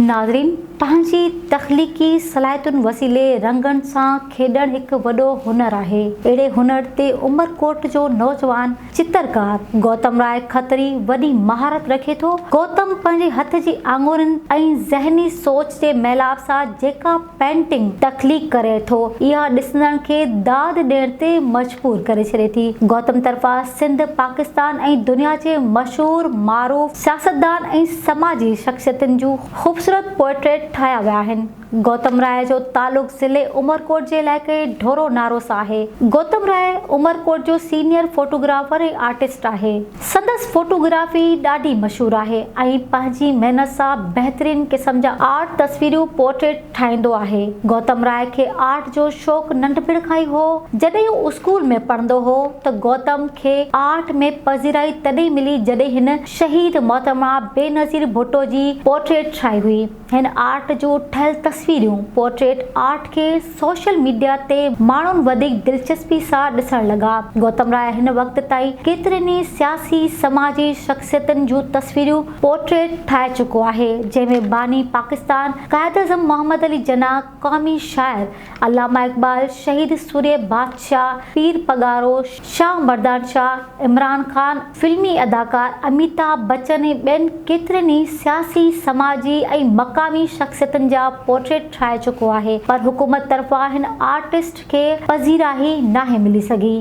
ناظرين! پنهنجي تخليقي صلاحيتن وسيلي رنگن سان کيڏڻ هڪ وڏو هنر آهي. اهڙي هنر تي عمرڪوٽ جو نوجوان چترڪار گوتم راء کتري وڏي مهارت رکي ٿو. گوتم پنهنجي هٿ جي آڱرين ۽ ذهني سوچ جي ميلاپ سان جيڪا پينٽنگ تخليق ڪري ٿو، اها ڏسندڙن کي داد ڏيڻ تي مجبور ڪري ڇڏي ٿي. گوتم طرفان سنڌ، پاڪستان ۽ دنيا جي مشهور، معروف سياستدان ۽ سماجي شخصيتن جون خوبصورت پورٽريٽ ٺاهيا ويا آهن. گوتم راء جو تعلق ضلعي عمرڪوٽ جي علائقي ڍورو نارو سان آهي. گوتم راء عمرڪوٽ جو سينيئر فوٽوگرافر ۽ آرٽسٽ آهي. سندس فوٽوگرافي ڏاڍي مشهور آهي ۽ پنهنجي محنت سان بهترين قسم جا آرٽ تصويرون، پورٽريٽ، ٺاهيندو آهي. گوتم راء کي آرٽ جو شوق ننڍپڻ کان ئي هو. جڏهن هو اسڪول ۾ پڙهندو هو ته گوتم کي آرٽ ۾ پذيرائي تڏهن ملي جڏهن هن شهيد محترمه بينظير ڀٽو جي پورٽريٽ ٺاهي هئي. هن آرٽ جو ٺهيل تصويريون، پورٽريٽ آرٽ، کي سوشل ميڊيا تي ماڻهن وڌيڪ دلچسپي سان ڏسڻ لڳا. گوتم راء هن وقت تائين ڪيترين ئي سياسي، سماجي شخصيتن جون تصويريون، پورٽريٽ، ٺاهي چڪو آهي، جنهن ۾ باني پاڪستان قائداعظم محمد علي جناح، قومي شاعر علامه اقبال، شهيد سورهيه بادشاهه، پير پڳارو، شاهه مردان شاهه، عمران خان، فلمي اداڪار اميتاڀ بچن ۽ ٻين ڪيترين ئي سياسي، سماجي ۽ مقامي شخصيتن جا پورٽريٽ ٺاهي چڪو آهي پر حڪومت طرفان هن آرٽسٽ کي پذيرائي ناهي ملي سگهي.